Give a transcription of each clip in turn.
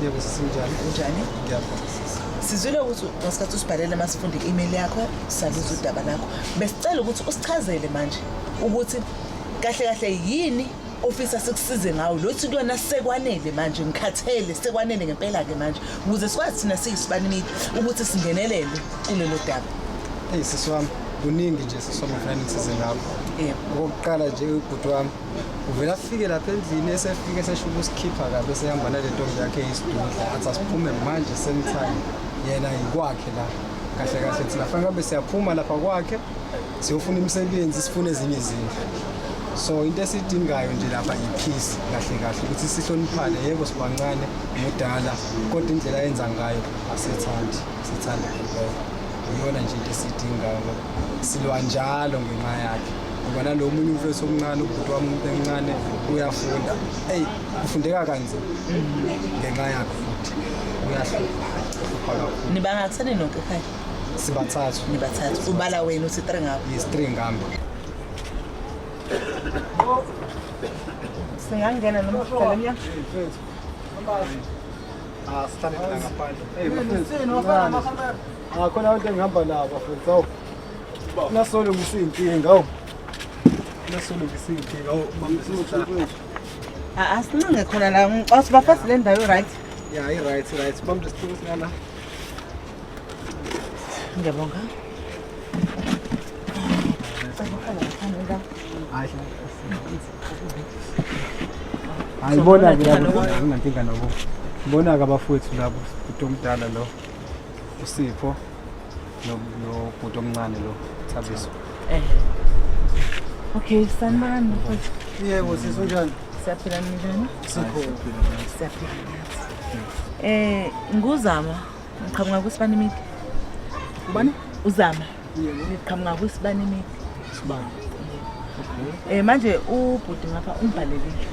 Yebo sisinjani? Unjani? Ngiyabonga. Sizwile ukuthi ngesikhathi usibhalele masifunde i-email yakho saluza udaba lakho. Besicela ukuthi usichazele manje ukuthi kahle kahle yini ofisa sikusize ngawo lothi kuyona sekwanele manje ngikhathele sekwanele ngempela ke manje ukuze sikwazi thina siyisibani media ukuthi singenelele kulelo daba. Hey sisi wami kuningi nje sisoma finance zingakho. Yebo. Okokuqala nje ubhuti wami uvele afike lapha endlini esefike esesho ukusikhipha kabe sehamba nale ntombi yakhe isidudla athi asiphume manje same time yena yikwakhe la kahle kahle thina fanele kambe siyaphuma lapha kwakhe siyofuna imisebenzi sifune ezinye izindlu so into esidingayo nje lapha yiphisi kahle kahle ukuthi sihloniphane yebo sibancane mudala kodwa indlela yenza ngayo asithandi sithanda iyona nje into esidingayo silwa njalo ngenxa yakhe ngoba nalo munye umfethu omncane ubhuti wami umuntu emncane uyafunda eyi kufundeka kanzima ngenxa yakhe futhi uyahlupha kakhulu nibangatheni nonke ekhaya sibathathu nibathathu ubala wena uthi three ngabo yes three ngami singangena noma uqala emnyango asihlale ah, ngaphandle Angakhona abantu engihamba nabo bafethu awu. Nasolo ngisinkinga awu. Nasolo ngisinkinga awu mamsizwe. Ah, asincinge khona la ngicos bafasi le ndawo right. Yeah, i right, i right. Bambe isitulo singala. Ngiyabonga. Hayi bona ke lapho nginankinga nabo. Bona ke abafowethu labo, umuntu omdala lo. usipho nobhuti omncane lo thabiso eh okay sanibani yebo sisi unjani siyaphila ninjani sikho siyaphila eh nguzama ngiqhamuka kwisibani midi ubani uzama yebo ngiqhamuka kwisibani midi sibani eh manje ubhuti ngapha umbhalelile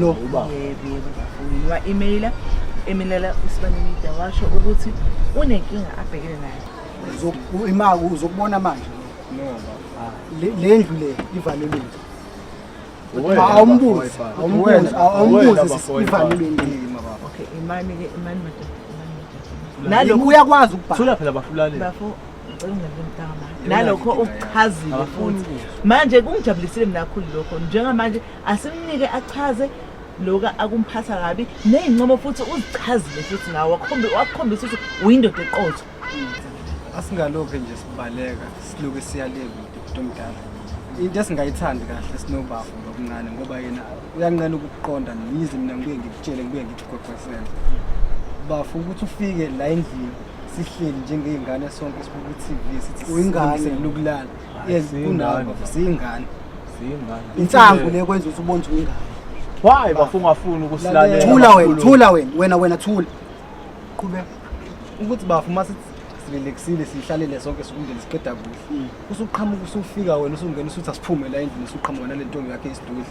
lo uba yebo yebo ngafuna wa email eminela usibanimida washo ukuthi unenkinga abhekene nayo imali uzokubona manje le ndlu le ivalelile awumbuzi awumbuzi awumbuzi ivalelile okay imani ke imani madoda nalo uyakwazi ukubhala thula phela bafulani bafo nalokho ukuchazile futhi manje kungijabulisile mina kakhulu lokho njengamanje asimnike achaze lokhu akumphatha kabi ney'ncomo futhi uzichazile futhi ngawo wakukhombisa ukuthi uyindoda eqotho asingalokhu nje sibaleka siloke siyaleka umuntu omdala into esingayithandi kahle sinobafo ngokuncane ngoba yena uyanqena ukuqonda yize mina ngibuye ngikutshele ngibuye ngikugwegwesele bafo ukuthi ufike la endlini sihleli njengey'ngane sonke sibuka i-tv sithi Uyingane. silungiselela ukulala Hayi, yes siyingane. kunani bafo siyingane Siyingane. insangu le kwenza ukuthi ubone ukuthi uyingane Why bafo ungafuni ukusilalela? thula wena kakhulu? thula wena wena wena thula qhubeka ukuthi bafo uma sithi silelekisile siyihlalele sonke sikumndeni siqeda kuhle usuqhamuka usufika wena usungena usuthi asiphume la endlini usuqhamuka nale ntombi yakhe isidudla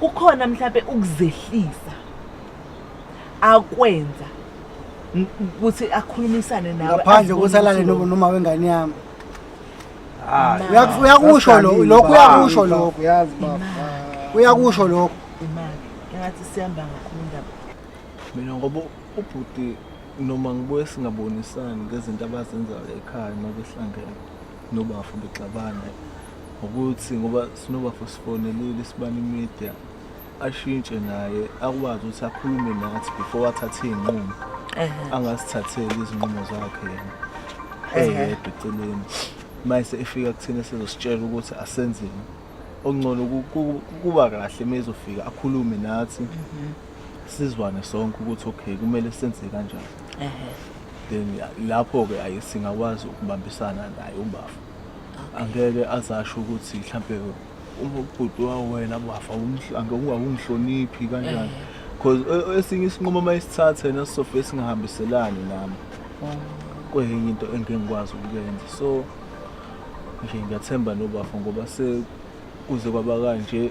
kukhona mhlawumbe ukuzehlisa akwenza ukuthi akhulumisane nawe ngaphandle ukuthi alale noma wengane yami ah, uyakusho lokho lokho uyakusho lokho uyazi baba uyakusho lokho imali engathi sihamba ngakhulu indaba mina ngoba ubhuti noma ngibuye singabonisani ngezinto abazenzayo ekhaya uma behlangene nobafo bexabana ngokuthi ngoba sinobafo sifonelile sibani media ashintshe naye akwazi ukuthi akhulume nathi before athathe iy'nqumo angasithatheli izinqumo zakhe yena eyedwa eceleni mayese efika kuthina sizositshela ukuthi asenzeni okungcono kuba kahle uma ezofika akhulume nathi mhm. sizwane sonke ukuthi okay kumele senze kanjani then lapho-ke ayi singakwazi ukubambisana naye ubafa angeke azasho ukuthi mhlampe ubhuti wawena bafa umhlange ungakungihloniphi kanjani because e, esinye isinqumo uma isithathe nesisofa esingahambiselani nami oh. kuyinye into engingikwazi ukuyenza so nje ngiyathemba nobafo ngoba sekuze kwaba kanje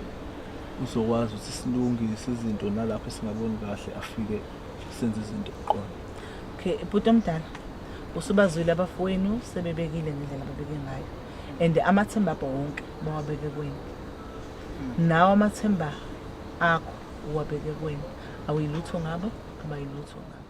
uzokwazi ukuthi silungise izinto nalapho singaboni kahle afike senze izinto kuqona okay bhuti omdala usubazwile abafowenu sebebekile ngendlela ababeke ngayo and amathemba abo wonke bawabeke kwenu nawo amathemba akho uwabeke kwenu awuyilutho ngabo abayilutho ngabo